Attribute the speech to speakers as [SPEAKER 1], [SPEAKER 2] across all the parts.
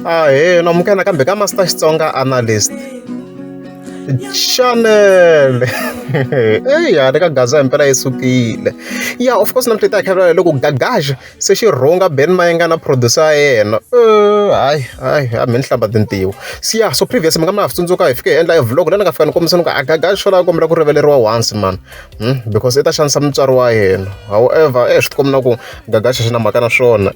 [SPEAKER 1] ahee namukela kambe ka master xitsonga analyst chanel eya le ka gaza himpela yi sukile ya of course namhla ta khavela loko gagaxa se xi rhunga ben mayenga na producer ya yena hayi hayi a mi ni hlamba tintiwo siya so previous mi nga mi ha tsundzuka hi fike hi endla e vlog la ni nga fika ni kombisa ni ku a gagaxa xo lava kombela ku rivaleriwa once mani Hmm? because i ta xanisa mutswari wa yena however e swi tikombi na ku gagaxa xi na mhaka na swona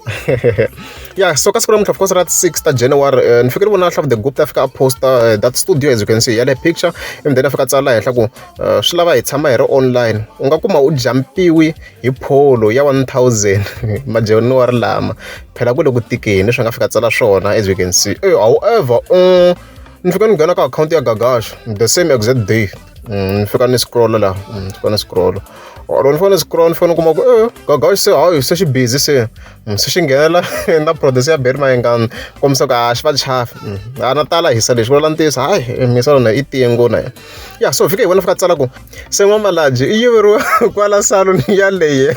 [SPEAKER 1] ya so ka siku namuntlha of course ra 6 ta january uh, ni fikele vona hlavu the group ta fika a posta uh, that studio as you can see ya le picture ivi then a fika tsala henhla ku uh, swi lava hi tshama hi ri online u nga kuma u jampiwi hi pholo ya 1000 majanuary lama phela ku le ku tikeni swi nga fika tsala swona as you can see however um ni fika ni nghena ka akhawunti ya gagaxa the same exact day mm, ni fika ni scrolla laha mm, ni fika ni scrolla or ni fanele scroll ni fanele kuma ku e gagaxi se hayi se xi busy se mm, se xi nghenela na produce ya beri mayengani kombisa ku a xi va chafi mm, a na tala hisa lexi vula ntiyiso hayi eh, misa lona i tingo na yena ya so fika hi vona fika tsala ku se n'wamalaji i yiveriwa kwala saloni yaleye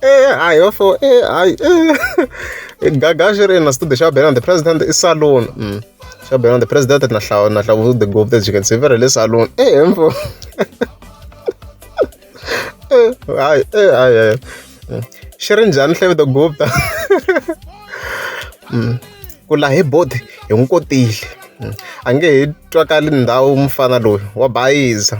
[SPEAKER 1] Eh, hayi va fo eh, hayi eh. gaga xi ri ina studio xa bela on the president i salon mm. xa bela on the president na hlawu na hlawu the gov that you can see very le salon eh mfo eh, hayi eh hayi hayi mm. xi ri njhani hlawu the gov ta mm. ku la hi bodi hi n'wi kotile a nge he twakali ndhawu mufana loyi wa bayiza